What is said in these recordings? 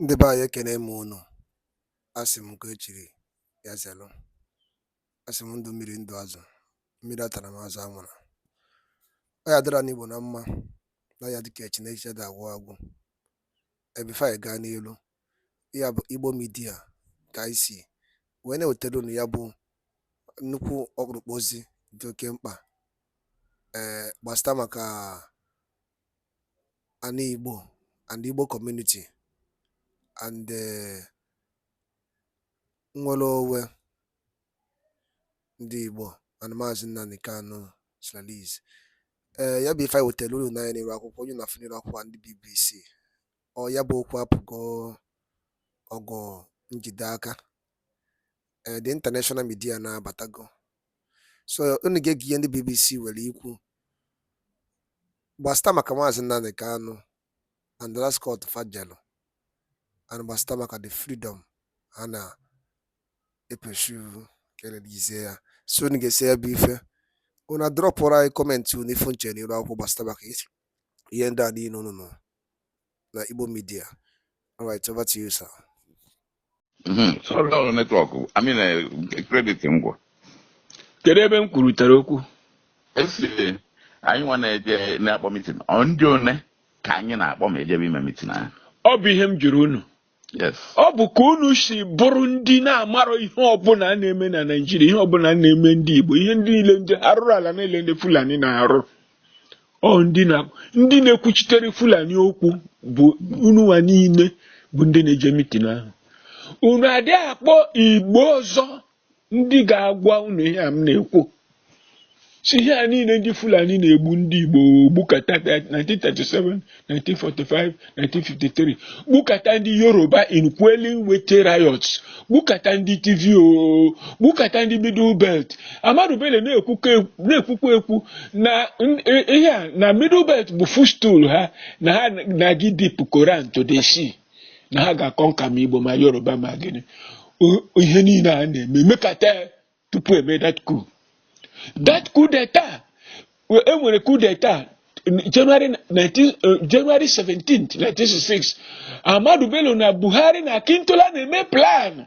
Ndị be anyị ekene m unu asị m nke echiri ya zelụ asị m ndụ mmiri ndụ azụ mmiri atala ma azụ anwụla ọ ya dịra ndị Igbo na mma na ya dịka echi na echi adị agwụ agwụ ebife anyị gaa n'elu ya bụ Igbo midia ka anyị si wee na-ewetara unu ya bụ nnukwu ọkpụrụkpụ ozi dị oke mkpa ee gbasịta maka anị Igbo and Igbo community and eh, nnwere onwe ndị Igbo and Maazị Nnamdi Kanu's release. Ee, eh, ya bụ ife anyị wetara unu nee anya n'iru akwụkwọ onye na-afụ n'iru akwụkwọ ndị BBC. Ọ ya bụ okwu apụgo ọgụ njide aka. Ee, eh, the international media na-abatago so unu ga-ege ihe ndị BBC nwere ikwu gbasịta maka maazị Nnamdi Kanu and the last court fa jelu and gbasịta maka the freedom ha na-epursue ka e rilizie ya so unu gesịa ya bụ ife unu adrọpụrụ anyị kọmentị unu ife unu che n'iru akwụkwọ gbasịta maka ihe ndị a niile unu nụrụ na Igbo Media. All right, over to you, sir. Mm-hmm. Sorry, network. I mean, uh, credit ngwa. Kedu ebe m kwurutere okwu? Esi anyị nwa na-eje na-akpọ mitin, ọ ndị one ka anyị na-akpọ ma ejebe ime mitin ahụ. Ọ bụ ihe m jụrụ unu. ọ bụ ka unu si bụrụ ndị na-amarọ ihe ọbụla na-eme na Naịjirịa ihe ọbụla na-eme ndị Igbo ihe ndị niile ndị arụrụ ala niile ndị Fulani na-arụ ọ ndị na-ekwuchitere Fulani okwu bụ unu nwa niile bụ ndị na-eje mitin ahụ unu adịghị akpọ Igbo ọzọ ndị ga-agwa unu ihe a m na-ekwu si ihe a niile ndị Fulani na-egbu ndị Igbo gbukata 1937 1945 1953 gbukata ndị Yoruba in quelling Wetie riots gbukata ndị Tiv gbukata ndị Middle Belt Ahmadu Bello na-ekwukwa ekwu na ihe a na Middle Belt bụ footstool ha na ha na-aga ịdip Koran to the sea na ha ga-aconquer ma igbo ma yoruba ma gịnị ihe niile a na-eme emekata tupu eme that coup that coup d'etat enwere coup d'etat January 19, uh, January 17th, 1966 Ahmadu Bello na Buhari na Akintola na-eme plan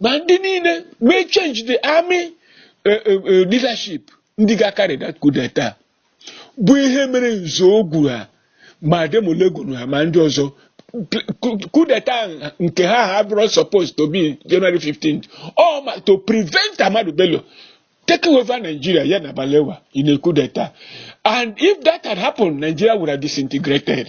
ma ndị niile mee change the army eh, eh, eh, leadership ndị ga-acarry that coup d'etat bụ ihe mere Nzeogwu ha ma Ademulegun ha ma ndị ọzọ coup d'etat nke ha ha bụrụ supposed to be January 15th or ma- to prevent Ahmadu Bello taking over Nigeria ya na Balewa in a coup d'etat and if that had happened Nigeria would have disintegrated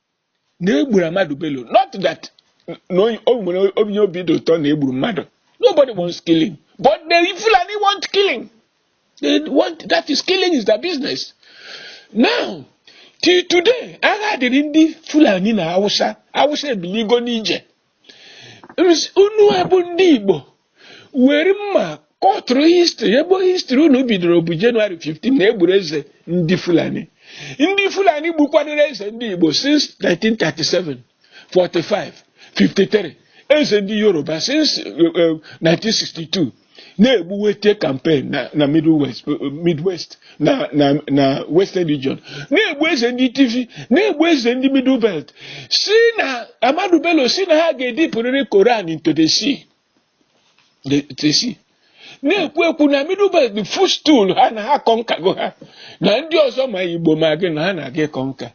na egburu Ahmadu Bello not that na onye- o nwere onye obi dị ụtọ na egburu mmadụ nobody wants killing but the Fulani want killing they want that is killing is their business now till today agha dịrị ndị Fulani na Hausa Hausa ebiligo n'ije unu a bụ ndị Igbo were mma kọtụrụ history ebe history unu bidoro bụ January 15 na egburu eze ndị Fulani ndị Fulani gbukwanụrụ eze ndị Igbo since 1937 45 53 eze ndị Yoruba since 1962 eh, eh, na-egbu Wetie campaign na na Middle West Midwest na na na Western Region na-egbu eze ndị Tiv na-egbu eze ndị Middle Belt si na Ahmadu Bello si na ha ga-edipụrịrị Koran into the sea the- the sea na-ekwu ekwu na Middle Belt bụ footstool ha na ha kọnkago ha na ndị ọzọ ma Igbo ma gị na ha na-aga ịkọnka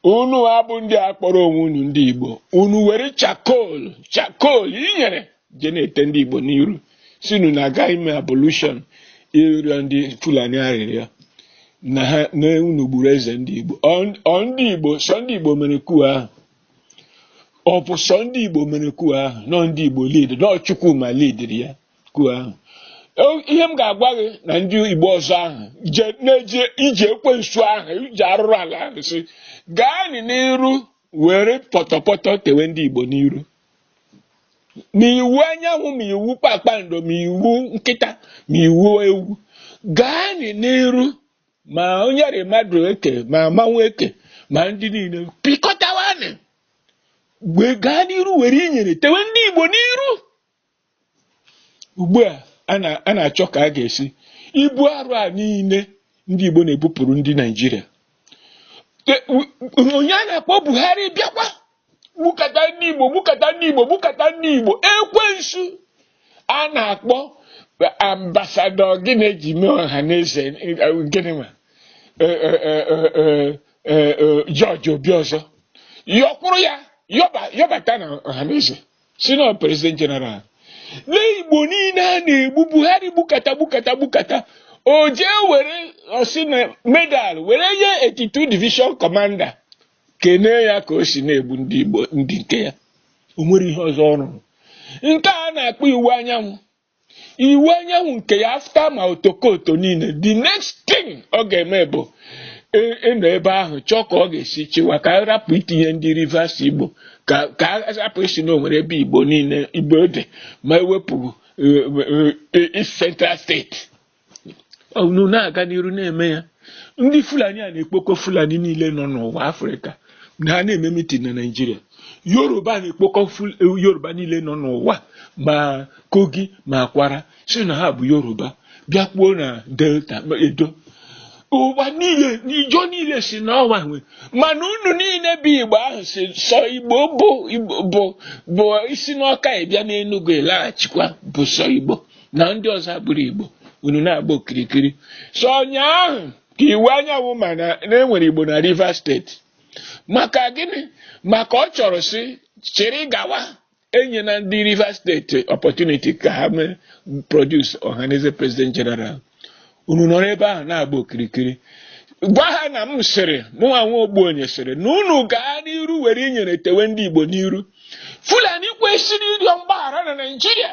unu a bụ ndị a kpọrọ onwe unu ndị Igbo unu were charcoal charcoal inyere je na-ete ndị Igbo n'iru sị unu na-aga ime ablution ịrịọ ndị Fulani arịrịọ na ha na unu gburu eze ndị Igbo ọ ndị Igbo sọ ndị Igbo mere coup ahụ ọ bụ sọ ndị Igbo mere coup ahụ na ọ ndị Igbo lead na ọ Chukwuma lidiri ya coup ahụ ihe m ga-agwa gị na ndị Igbo ọzọ ahụ na-eje ije ekwensu ahụ ije arụrụ ala ahụ si gaanị n'iru were pọtọpọtọ tewe ndị Igbo n'iru ma Iwuanyanwụ ma iwu kpakpando ma iwu nkịta ma iwu ewu gaa n'iru ma onye rị mmadụ eke ma mmanwụ eke ma ndị niile pịkọtawanị wee gaa n'iru were inyere tewe ndị Igbo n'iru ugbu a a na-achọ ka a ga-esi ibu arụ a niile ndị Igbo na-ebupụrụ ndị Naịjirịa onye a na-akpọ Buhari bịakwa gbukata ndị Igbo gbukata ndị Igbo gbukata ndị Igbo ekwensu a na-akpọ ambassador gịnị e ji mee Ọhanaeze gịnị ma George Obiozor yọkwụrụ ya yọbata na Ọhanaeze sị na ọ president general lee igbo niile a na-egbu buhari gbukata gbukata gbukata o jee were ọ sị na medal were nye 82 division commander kenee ya ka o si na-egbu ndị igbo ndị nke ya o nwere ihe ọzọ ọ rụrụ nke a na-akpọ Iwuanyanwụ Iwuanyanwụ nke ya after ma otokoto niile the next thing ọ ga-eme bụ ị- ịnọ ebe ahụ chọọ ka ọ ga-esi chịwa ka a rapụ itinye ndị rivers igbo ka ka a rapụ ịsị na o nwere ebe igbo niile igbo dị ma ewepụ eh, eh, East Central State unu na-aga n'iru na-eme ya ndị fulani a na-ekpokọ fulani niile nọ n'ụwa afrịka na ha na-eme mitin na naijiria yoruba na-ekpokọ ful- yoruba niile nọ n'ụwa ma kogi ma kwara sị na ha bụ yoruba bịakwuo na delta ma edo ụwa niile n'ijọ niile sị na ọ wa nwe mana unu niile bụ igbo ahụ sị sọ igbo bụ Igbo- bụ bụ isi n'ọka ịbịa n'enugwu ịlaghachikwa bụ sọ igbo na ndị ọzọ abụrọ Igbo unu na-agba okirikiri sọ ụnyaahụ ka Iwuanyanwụ ma na e nwere Igbo na Rivers State maka gịnị maka ọ chọrọ si chịrị gawa enyena ndị Rivers State opportunity ka ha mee produce Ohanaeze president general unu nọrọ ebe ahụ na-agba okirikiri gwa ha na m sịrị mụnwa nwa ogbenye sịrị na unu gaa n'iru were inyere tewe ndị Igbo n'iru Fulani kwesịrị ịrịọ mgbaghara na Naịjirịa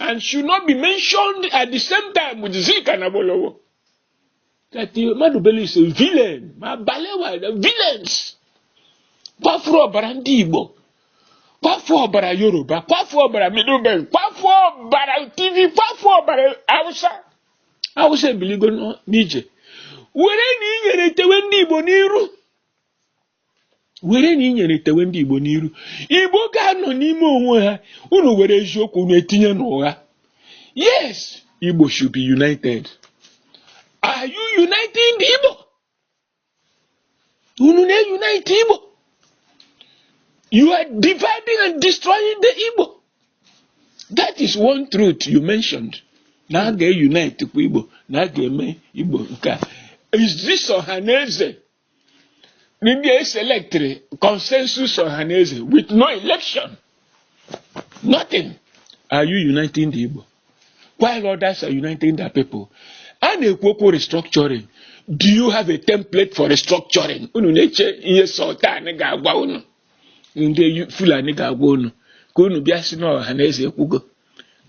and should not be mentioned at the same time with Zik and Awolowo. That Ahmadu Bello is a villain. Ma Balewa, the villains. Kwafuru ọbara ndị Igbo. Kwafuru ọbara Yoruba. Kwafuru ọbara Middle Belt. Kwafuru ọbara Tiv. Kwafuru ọbara Hausa. Hausa ebiligo n'ije. Were na inyere tewe ndị Igbo n'iru. were na inyere tewe ndị Igbo n'iru Igbo ga-anọ n'ime onwe ha unu were eziokwu unu etinye n'ụgha yes Igbo should be united are you uniting the Igbo unu na-unite Igbo you are dividing and destroying the Igbo that is one truth you mentioned na a ga-unite kwa Igbo na a ga-eme Igbo nke a is this Ohanaeze ndị e selectịrị consensus Ohanaeze with no election nothing are you uniting the Igbo while others are uniting their people a na-ekwu okwu restructuring do you have a template for restructuring unu na-eche ihe sultan ga-agwa unu ndị Fulani ga-agwa unu ka unu bịa sị na Ohanaeze ekwugo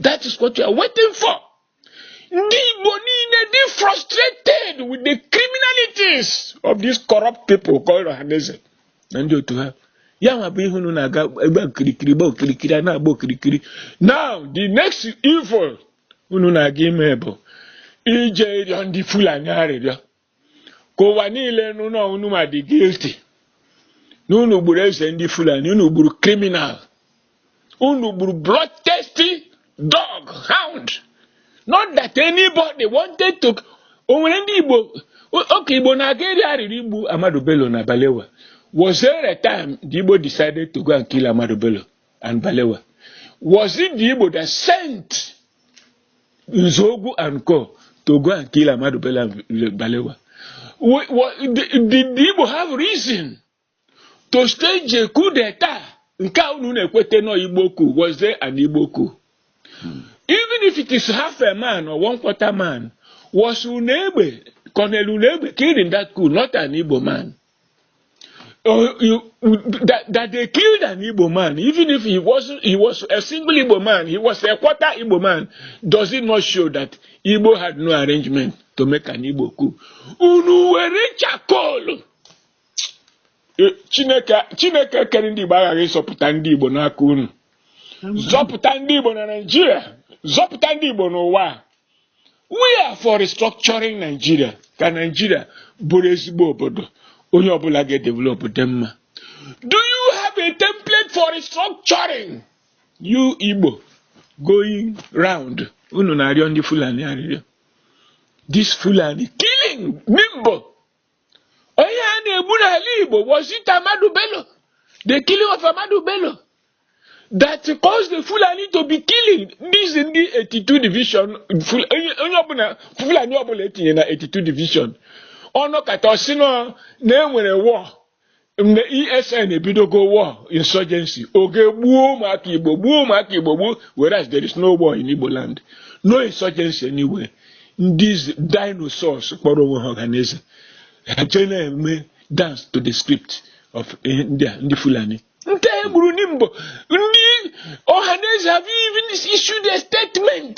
that is what you are waiting for ndị Igbo niile dị frustrated with the criminalities of these corrupt people called Ohanaeze na ndị otu ha ya nwa bụ ihe unu na-aga ịgba okirikiri gba okirikiri a na-agba okirikiri now the next evil unu na-aga ime bụ ije ịrịọ ndị Fulani arịrịọ ka ụwa niile nụ na unu nwa dị guilty na unu gburu eze ndị Fulani unu gburu criminal unu gburu bloodthirsty dog hound not that anybody wanted to o nwere ndị Igbo okay Igbo na-aga ịrịọ arịrịọ igbu Ahmadu Bello na Balewa was there a time the Igbo decided to go and kill Ahmadu Bello and Balewa? Was it the Igbo that sent Nzogu and Co to go and kill Amadu Bello Balewa? Did the Igbo have reason to stage a coup d'etat? Nke a unu na-ekwete nọ Igbo coup, was there an Igbo coup? Hmm. Even if it is half a man or one quarter man, was Unegbe, Colonel Unegbe killed in that coup, not an Igbo man? uh, you, that, that they killed an Igbo man, even if he was he was a single Igbo man, he was a quarter Igbo man, does it not show that Igbo had no arrangement to make an Igbo coup? Unu were charcoal. Eh, Chineke Chineke kere ndị Igbo aghaghị ịzọpụta ndị Igbo n'aka unu. Zọpụta ndị Igbo na Naịjirịa, zọpụta ndị Igbo n'ụwa. we are for restructuring Nigeria ka Nigeria bụrụ ezigbo obodo onye ọbụla ga-edevelop dị mma do you have a template for restructuring you Igbo going round unu na-arịọ ndị Fulani arịrịọ this Fulani killing Nimbo onye a na-egbu n'ala Igbo was it Ahmadu Bello the killing of Ahmadu Bello that caused the Fulani to be killing these ndị 82 division onye ọbụla Fulani ọbụla e tinye na 82 division ọ nọkata ọ sị na e nwere war mgbe ESN ebidogo war insurgency ọ gaa gbuo ụmụaka Igbo gbuo ụmụaka Igbo gbuo whereas there is no war in Igbo land no insurgency anywhere ndị dinosaurs kpọrọ onwe ha Ọhanaeze ha jee na-eme dance to the script of eh, ndị a ndị Fulani ndị e gburu Nimbo ndị Ọhanaeze have even issued a statement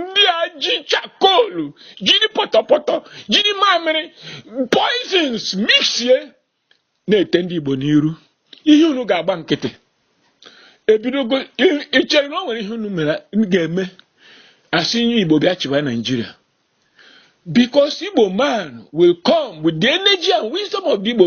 ndị a ji charcoal jiri pọtọpọtọ jiri mamịrị poisons mixie na-ete ndị Igbo n'iru ihe unu ga-agba nkịtị ebidogo i chere na o nwere ihe unu mere ga-eme a sị onye Igbo bịa chịwa Naijiria because Igbo man will come with the energy and wisdom of the Igbo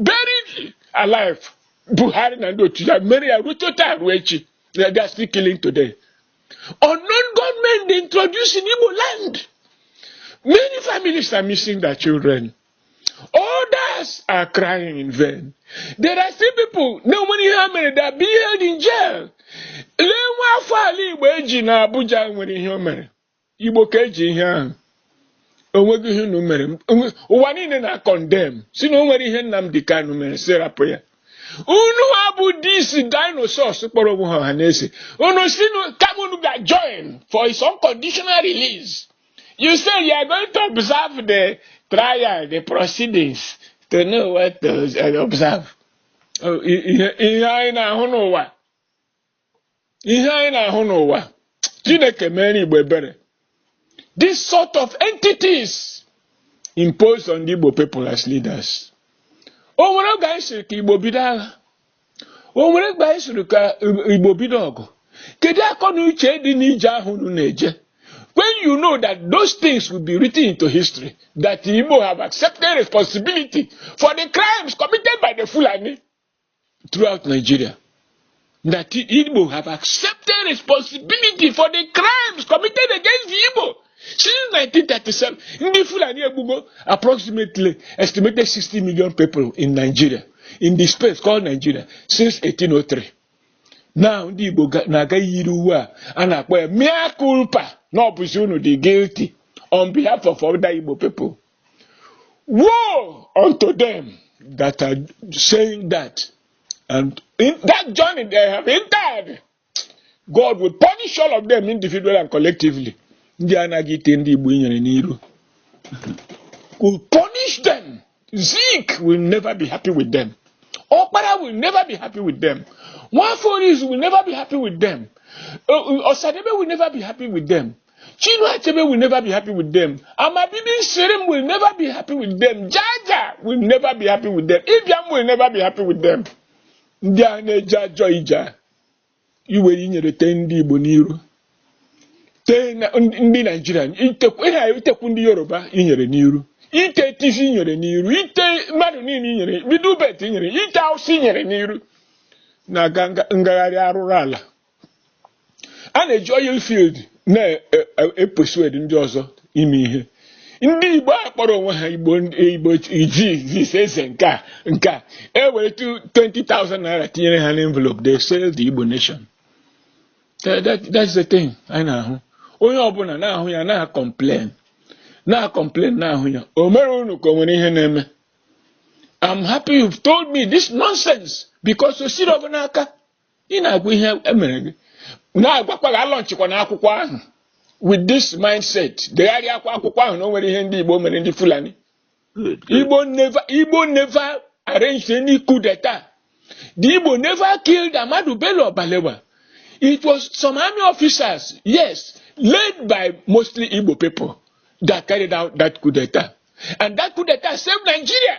buried alive buhari na ndị otu ya mere ya ruo taa ruo echi na they are still killing today unknown gunmen they introduced in igbo land many families are missing their children others are crying in vain there are still people na o nwere ihe ha mere they are being held in jail lee nwa afọ ala igbo e ji na abuja nwere ihe o mere igbo ka e ji ihe ahụ o nweghị ihe unu mere ụwa niile na-acondemn sị na o nwere ihe Nnamdi Kanu mere sị rapụ ya unu a bụ these dinosaurs kpọrọ onwe ha Ọhanaeze unu sị kama unu ga join for his unconditional release you say you are going to observe the trial the proceedings to know what to observe oh, ihe anyị na-ahụ n'ụwa ihe anyị na-ahụ n'ụwa chineke mere igbo ebere this sort of entities imposed on the igbo people as leaders o nwere oge anyị sịrị ka igbo bido agha o nwere oge anyị sịrị ka igbo bido ọgụ kedu akọ na uche dị n'ije ahụ unu na-eje when you know that those things will be written into history that igbo have accepted responsibility for the crimes committed by the fulani throughout Nigeria that Igbo have accepted responsibility for the crimes committed against the Igbo since 1937. Ndị Fulani egbugo approximately estimated 60 million people in Nigeria in the space called Nigeria since 1803. Now ndị Igbo na-aga yiri uwe a a na-akpọ ya mea culpa na ọ bụzi unu dị guilty on behalf of other Igbo people. Woe unto them that are saying that. And in that journey they have entered, God will punish all of them individually and collectively. Ndị anaghị ite ndị Igbo inyere n'iru. Will punish them. Zeke will never be happy with them. Okpara will never be happy with them. Nwaforis will never be happy with them. Uh, uh, Osadebe will never be happy with them. Chinua Achebe will never be happy with them. Amabibi Shirim will never be happy with them. Jaja will never be happy with them. Ibiam will never be happy with them. Ndị a na-eje ajọ ije a iwere inyere tee ndị Igbo n'iru tee na- ndị ndị Naijiria itekwu ihe a itekwu ndị Yoruba inyere n'iru ite Tiv inyere n'iru ite mmadụ niile inyere Middle Belt inyere ite Awụsa inyere n'iru na-aga nga- ngagharị arụrụ ala a na-eji oil field na-epersuade ndị ọzọ ime ihe ndị igbo a kpọrọ onwe ha igbo igbo jizis eze nke a nke a e were 20,000 naira tinyere ha n'envelope they sell the igbo nation that's the thing anyị na-ahụ onye ọbụla na-ahụ ya na-acomplain na-acomplain na-ahụ ya o mere unu ka o nwere ihe na-eme I'm happy you've told me this nonsense because o siri ọ bụ n'aka ị na-agwa ihe emere gị na-agwakwa gị alaunchikwana akwụkwọ ahụ with this mindset degharịakwa akwụkwọ ahụ na o nwere ihe ndị Igbo mere ndị Fulani Igbo never Igbo never arranged any coup d'etat the Igbo never killed Ahmadu Bello or Balewa it was some army officers yes led by mostly Igbo people that carried out that coup d'etat and that coup d'etat saved Nigeria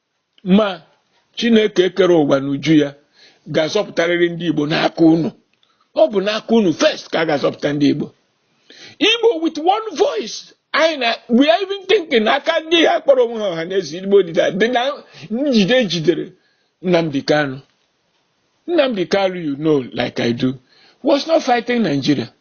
ma Chineke kere ụwa n'uju ya ga-azọpụtarịrị ndị Igbo n'aka unu ọ bụ n'aka unu first ka a ga-azọpụta ndị Igbo Igbo with one voice anyị na we are even thinking aka ndị a kpọrọ onwe ha Ọhanaeze Igbo dị na dị na njide jidere Nnamdi Kanu Nnamdi Kanu you know like I do was not fighting Nigeria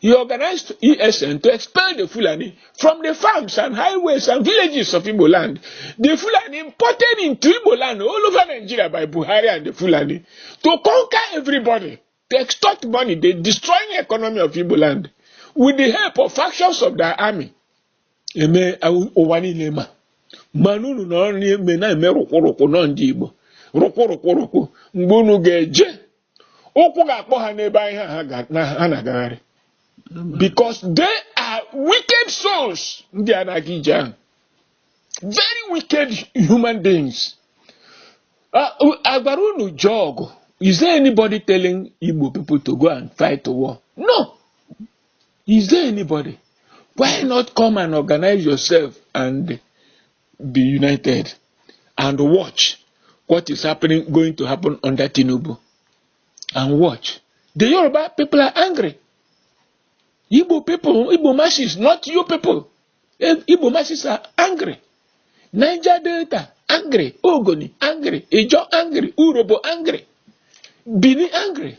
He organized ESN to expel the Fulani from the farms and highways and villages of Igbo land. The Fulani imported into Igbo land all over Nigeria by Buhari and the Fulani to conquer everybody, to extort money, the destroying economy of Igbo land with the help of factions of their army. Eme ụwa niile ma mana unu nọrọ n'ime na-eme rụkwụrụkwụ nọ ndị Igbo rụkwụrụkwụrụkwụ mgbe unu ga-eje ụkwụ ga-akpọ ha n'ebe anyị ha ga- na- ha na-agagharị because they are wicked souls ndị a na-aga ije ahụ very wicked human beings Ah, u- a gwara unu jee ọgụ is there anybody telling Igbo people to go and fight a war no is there anybody why not come and organize yourself and be united and watch what is happening going to happen under Tinubu and watch the Yoruba people are angry Igbo people Igbo masses not you people eh, Igbo masses are angry Niger Delta angry Ogoni angry Ijo angry Urobo angry Bini angry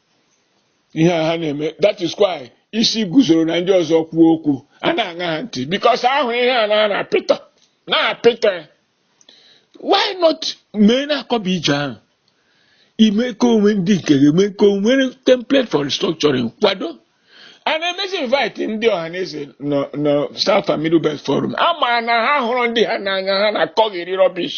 ihe a ha na-eme that is why Isiguzoro na ndị ọzọ kwuo okwu a na-aṅa ha ntị because ahụ ihe a na-ana apịtọ na-apịtọ why not mee na-akọba ije ahụ ime ka onwe ndị nke ga-eme ka onwe template for restructuring kwado a na-emezi invite ndị Ohanaeze na South and Middle Belt Forum mana ha hụrụ ndị ha n'anya ha na-akọgheri rubbish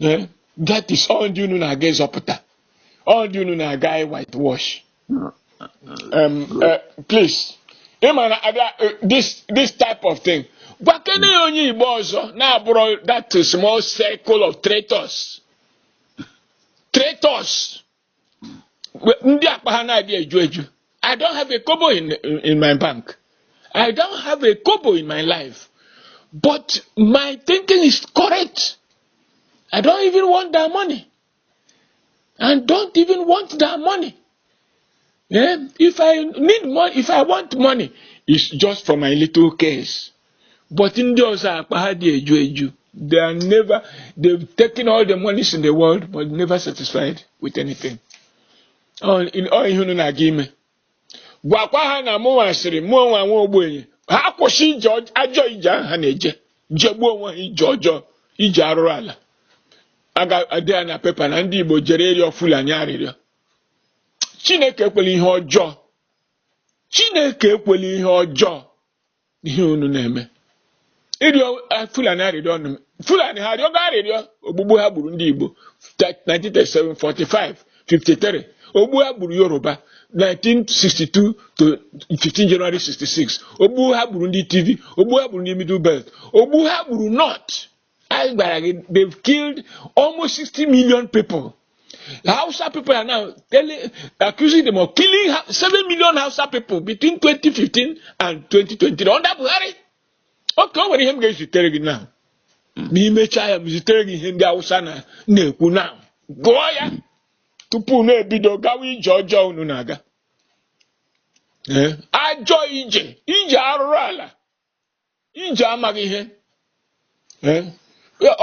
Eh, that is ọ ndị unu na-aga ịzọpụta ọ ndị unu na-aga ị whitewash um, uh, please ị ma na abịa eh, this this type of thing gwakene ya onye igbo ọzọ na-abụrọ that small circle of traitors traitors ndị akpa ha na-adị eju eju I don't have a kobo in, in my bank I don't have a kobo in my life but my thinking is correct I don't even want that money and don't even want that money yeah? if I need money if I want money it's just for my little case but ndị ọzọ akpa ha adị eju eju they are never they've taken all the monies in the world but never satisfied with anything ọ ihe unu na-aga ime gwakwa ha na mụnwa sịrị mụnwa nwa ogbenye ha kwụsị ije ajọ ije ahụ ha na-eje jegbuo onwe ha ije ọjọọ ije arụrụ ala a ga-ede ya na pepa na ndị Igbo jere ịrịọ Fulani arịrịọ Chineke ekwela ihe ọjọọ Chineke ekwela ihe ọjọọ ihe unu na-eme ịrịọ eh, fulani arịrịọ ọnụ fulani ha arịọgo arịrịọ ogbugbu ha gburu ndị igbo 1937 45 53 ogbu ha gburu yoruba 1962 to 15 January 66 ogbu ha gburu ndị Tiv ogbu ha gburu ndị Middle Belt ogbu ha gburu North anyị gwara gị they've killed almost 60 million people Hausa people are now telling, accusing them of killing 7 million Hausa people between 2015 and 2020 under Buhari okay o nwere ihe m ga-ezitere gị now ma e mechaa ya m zitere gị ihe ndị Hausa na-ekwu now gụọ ya tupu unu ebido gawa ije ọjọọ unu na-aga ajọ ije ije arụrụ ala ije amaghị ihe eh?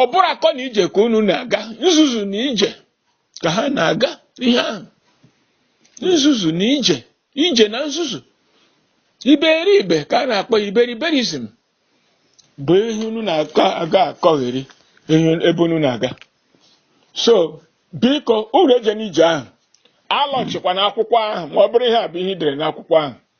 ọ bụrụ akọ na ije ka unu na-aga nzuzu na ije ka ha na-aga ihe ahụ nzuzu na ije ije na nzuzu iberibe ka a na-akpọ iberiberism bụ ihe unu na-aga akọgheri ebe unu na-aga so biko unu eje n'ije ahụ alọchikwa n'akwụkwọ ahụ ma ọ bụrụ ihe a bụ ihe i dere n'akwụkwọ ahụ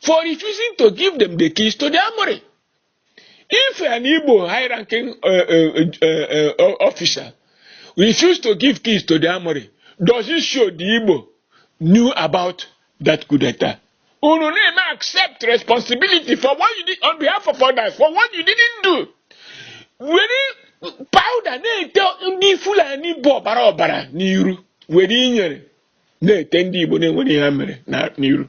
for refusing to give them the keys to the armory. If an Igbo high-ranking uh, uh, uh, uh, officer refused to give keys to the armory, does it show the Igbo knew about that coup d'etat? Unu na-eme accept responsibility for what you did on behalf of others, for what you didn't do. Were powder na-ete ndị Fulani bụ ọbara ọbara n'iru were inyere na-ete ndị Igbo na-enweghị ihe ha mere na- n'iru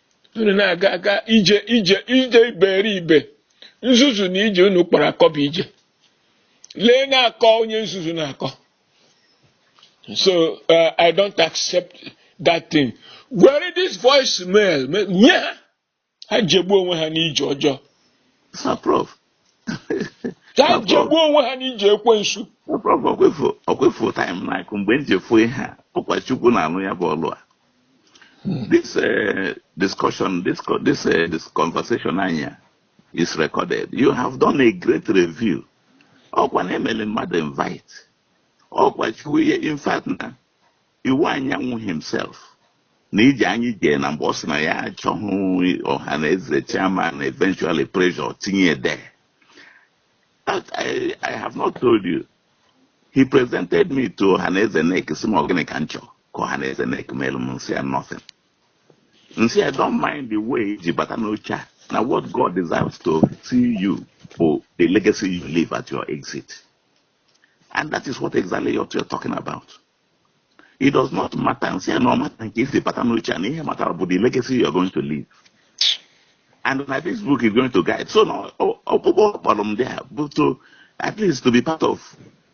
unu na-aga aga ije ije ije iberibe nzuzu na ije unu kpọrọ akọ bụ ije lee na-akọ onye nzuzu na-akọ so uh, i don't accept that thing were this voice mail nye ha ha jegbuo onwe ha n'ije ọjọọ Sir Prof, ka ha jegbuo onwe ha n'ije ekwensu ọkwa ị fụ time na-akụ mgbe m ji efu ihe a ọkwa Chukwu na-alụ ya bụ ọlụ a hmm. this eh, discussion this eh, this conversation anyị a is recorded you have done a great review ọkwa na emele mmadụ invite ọkwa Chief ihe in fact na Iwuanyanwụ himself na ije anyị jee na mgbe ọ sị na ya achọghị Ọhanaeze chairman eventually pressure tinye de I, I have not told you he presented me to Ọhanaeze NEC sị m ọ gịnị ka m chọọ ka Ọhanaeze NEC melu m m sị ya nothing m sị ya don't mind the way i ji bata n'oche a na what God desires to see you bụ the legacy you leave at your exit and that is what exactly you're talking about it does not matter m sị ya na ọ matter nke i si bata n'oche a na ihe mattera bụ the legacy you are going to leave and na this book is going to guide so na ọkpụkpọ kpọrọ m there bụ to at least to be part of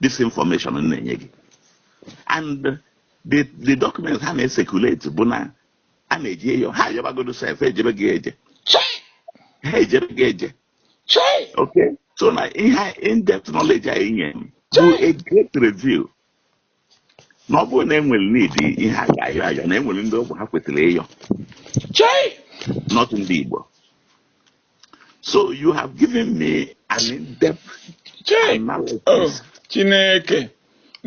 this information m na-enye gị and the the documents ha na-ecirculate bụ na a na-eji eyo ha ayọbagodo sef ejebe gị eje ha ejebe gị eje okay so na ihe in-depth knowledge anyị nye m bụ a great review na ọ bụrụ na e nwere ndị ha ga-ayọ ayọ na e nwere ndị ọ bụ ha kwetara ịyọ chai not ndị Igbo so you have given me an in-depth analysis oh Chineke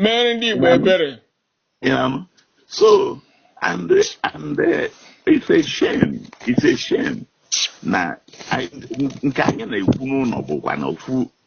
mere ndị Igbo ebere so and and uh, it's a shame it's a shame na nke anyị na-ekwu n'ụlọ bụkwa na ofu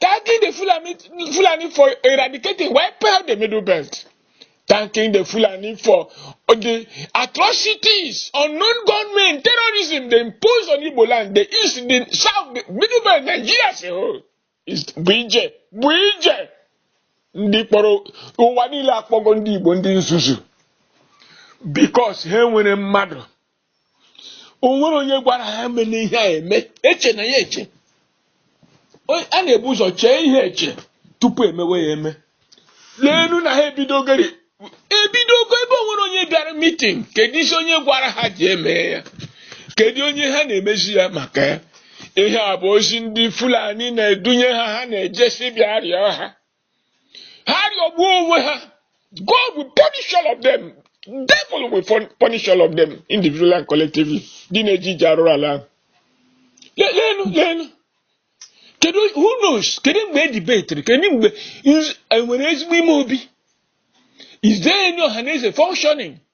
Thanking the Fulani, Fulani for eradicating, wiping out the middle belt. Thanking the Fulani for the atrocities, unknown gunmen, terrorism they impose on Igbo land, the east, the south, the middle belt, Nigeria as a whole. Is bụ ije, bụ ije. Ndị kpọrọ ụwa niile akpọgo ndị Igbo ndị nzuzu because ha nwere mmadụ o nwere onye gwara ha emene ihe a eme eche na ya eche O- a na-ebu ụzọ chee ihe eche tupu emewe ya eme leenu na ha ebidogori ebidogo ebe o nwere onye bịara meeting kedu isi onye gwara ha ji eme ya kedu onye ha na-emezi ya maka ya ihe a bụ ozi ndị fulani na-edunye ha ha na-ejesi bịa rịọ ha ha rịọgbuo onwe ha God will punish all of them devil will punish all of them individually and collectively ndị na-eje ije arụrụ ala ahụ leenụ leenụ kedu who knows kedu mgbe e debetiri kedu mgbe e nwere ezigbo ime obi is there any ọhaneze functioning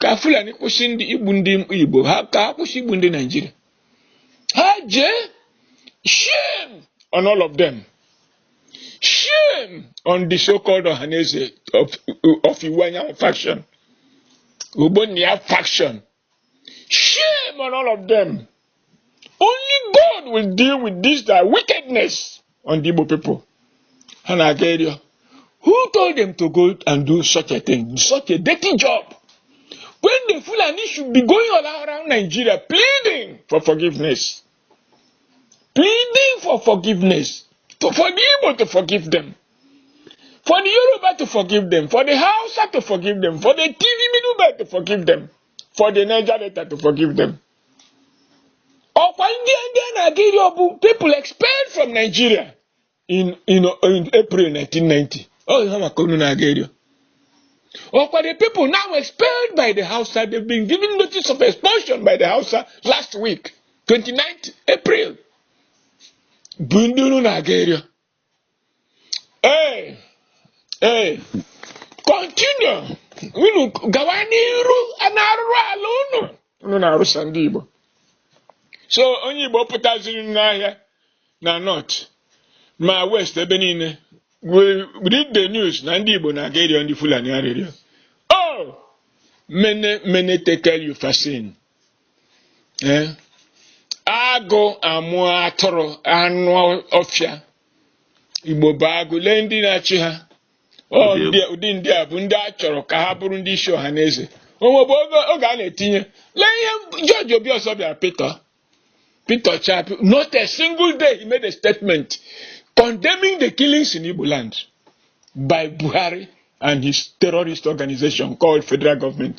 ka fulani kwụsị ndị igbu ndị igbo ha ka ha kwụsị igbu ndị Nigeria ha jee shame on all of them shame on the so-called ọhaneze of, of Iwuanyanwụ faction ogbonnia faction shame on all of them only God will deal with this their wickedness on the Igbo people ha na-aga ịrịọ who told them to go and do such a thing such a dirty job when the Fulani should be going all around Nigeria pleading for forgiveness pleading for forgiveness to, for the Igbo to forgive them for the Yoruba to forgive them for the Hausa to forgive them for the TV middleman to forgive them for the Niger Delta to forgive them ọkwa ndị ndị a na-aga ịrịọ bụ people expelled from Nigeria in, in, in April 1990 ọ ihe maka unu na-aga ịrịọ ọkwa the people now expelled by the Hausa they've been given notice of expulsion by the Hausa last week 29th April bụ ndị unu na-aga ịrị ee ee continue unu gawa n'iru n'arụrụ ala unu unu na-arụsa ndị Igbo so onye Igbo pụtazịrị n'ahịa na north ma west ebe niile we read the news na ndị Igbo na-aga ịrịọ ndị Fulani arịrịọ oh mene mene tekel upharsin ee agụ amụ atụrụ anụ ọfịa igbo bụ agụ lee ndị na-achị ha ụdị ndị a bụ ndị a chọrọ ka ha bụrụ ndị isi Ohanaeze o nwebu oge a na-etinye lee ihe George Obiozor bịara Peter Peter Chapi not a single day he made a statement condemning the killings in Igbo land by Buhari and his terrorist organization called federal government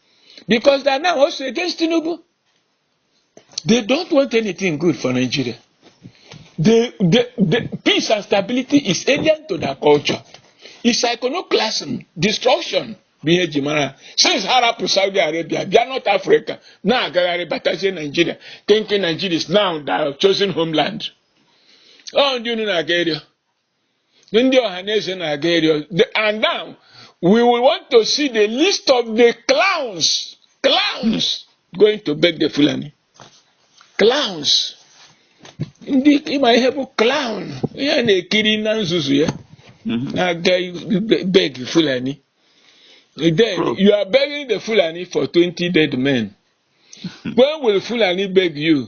because they are now also against Tinubu. They don't want anything good for Nigeria. The, the, the peace and stability is alien to their culture. It's iconoclasm, destruction. bụ ihe e ji mara since ha rapụ Saudi Arabia bịa North Africa na-agagharị batazie Nigeria thinking Nigeria is now their chosen homeland ọ ndị unu na-aga ịrịọ ndị Ohanaeze na-aga ịrịọ The- and now we will want to see the list of the clowns clowns going to beg the Fulani clowns ndị ị ma ihe bụ clown ihe a na-ekiri na nzuzu ya na-aga ibe- beg Fulani then you are begging the Fulani for 20 dead men when will Fulani beg you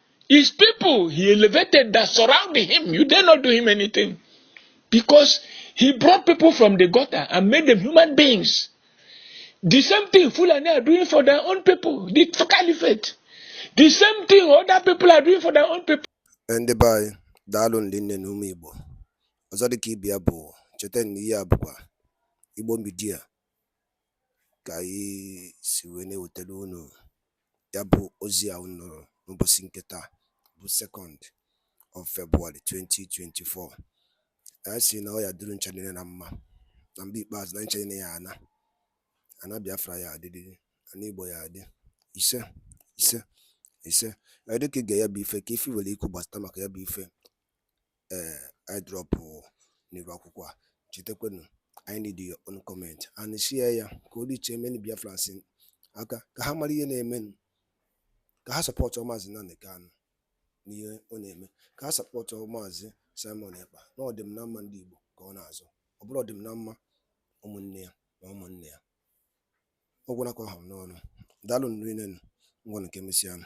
His people he elevated that surround him, you dare not do him anything. Because he brought people from the gutter and made them human beings. The same thing Fulani are doing for their own people, the caliphate. The same thing other people are doing for their own people. ndị be anyị daalụ ndị nne na ụmụ igbo ọzọ dịka ibi ya bụ cheta na ihe a bụkwa igbo midia ka anyị si wee na-ewetara unu ya bụ ozi a unu nụrụ n'ụbọsị nke taa bụ second of February 2024 anyị sị na ọ ya-adịrị unu ncha niine na mma na mgbe ikpeazụ na ncha niine ya-ana ana Biafra ya-adịrịrị ana Igbo ya-adị ise ise ise dịka i ge ya bụ ife ka ife i nwere ikwu gbasata maka ya bụ ife ee eh, ị drọpụ n'iru akwụkwọ a chetakwanụ anyị need your own comment and share ya ka o reachie many Biafrans aka ka ha mara ihe na-emenụ ka ha sọpọtụ maazị Nnamdi Kanu n'ihe ọ na-eme ka ha sọpọtụ maazị Simon Ekpa na ọdịm na mma ndị Igbo ka ọ na-azọ ọ bụrụ ọdịm na mma ụmụnne ya na ụmụnne ya ọ gwụna ka ọ ha n'ọnụ daalụnụ rinne nụ ngwanụ ka e mesịanụ